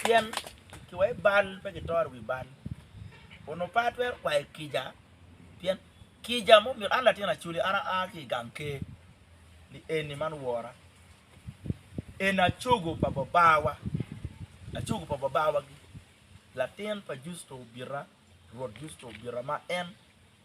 Pien kiwayo bal pe kitoro wi bal, onongo pe atwero kwayo kica, pien kica ma omyero an latin acoli an aa ki i gang ker ni eni man wora, eni acogo pa babawa, acogo pa babawa-gi latin pa Jucu obita, Rwot Jucu obita ma en.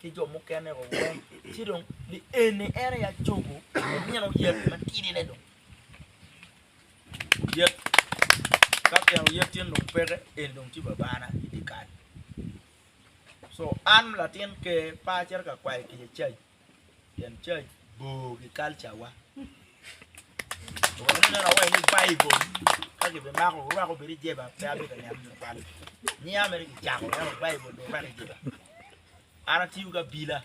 ki jo mukene o weng, ci dong lienni en aye acobo omino yet matidine dong. Yet ka tyen oyet cen dong peke en dong ci babana i dye kal. Co an latin ker pe acito ka kwayo kica caji. Tyen cac bor ki kalca wa. Weko ni neno awaci ni Baibul ka ki bimako orwako obedo i jeba pe abe ka niang nyo pale. Niya mere ki cako neno Baibul dong orwako i jeba. An atiyo ki abila.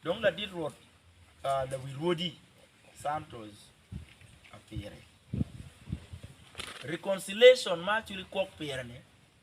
Dong ladit Rwot ah, lawi rwodi Santos Apiri. Reconciliation ma aculi kwok pire ni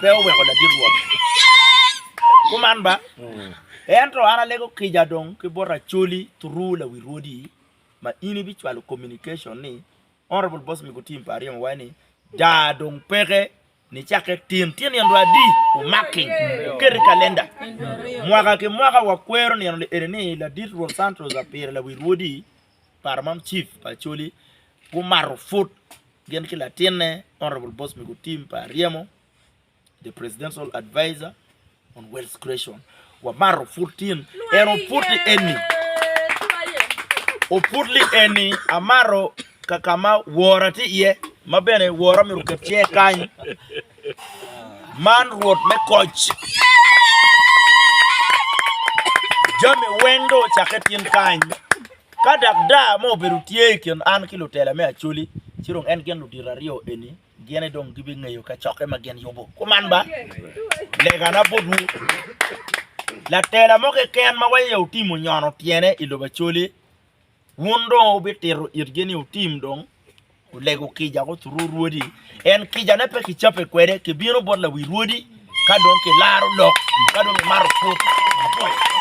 pe oweko ladit Rwot kuman ba, ento an alego kica dong ki bot Acholi through lawi Rwodi ma in ibicwalo communication ni Honourable Boss Migutim pa Aryemo Wai ni daa dong peke nicakke tin tyen nino adi omaki oket i kalenda mwaka ki mwaka wakwero nino li eni ni ladit Rwot Santos Apire lawi Rwodi Paro mam Chief pa Acholi gumato put gin ki latinne Honourable Boss Migo Tim pa Aryemo the Presidential Adviser on Wealth Creation. Wamato put tin en oput li eni oput li eni amato kakama wora tye iye ma bene wora myero oket tye kany Man Rwot me koc, jami weng dong ocakke tin kany. Ka dak daa mo obedo tye i kin an ki lutela me Acoli, ci dong en gin ludito aryo eni gene dong gibingeyo kacokke ma gin yubo. Kuman ba, legana botwu, latela mo keken ma waye otimo nyono tyene i lobo Acoli, Wun dong wubitito itgi ni wutim dong olego kica ko turu rwodi, en kicane pe kicape kwede, kibino bot lawi rwodi ka dong kilaro lok, ka dong kimato put maboco.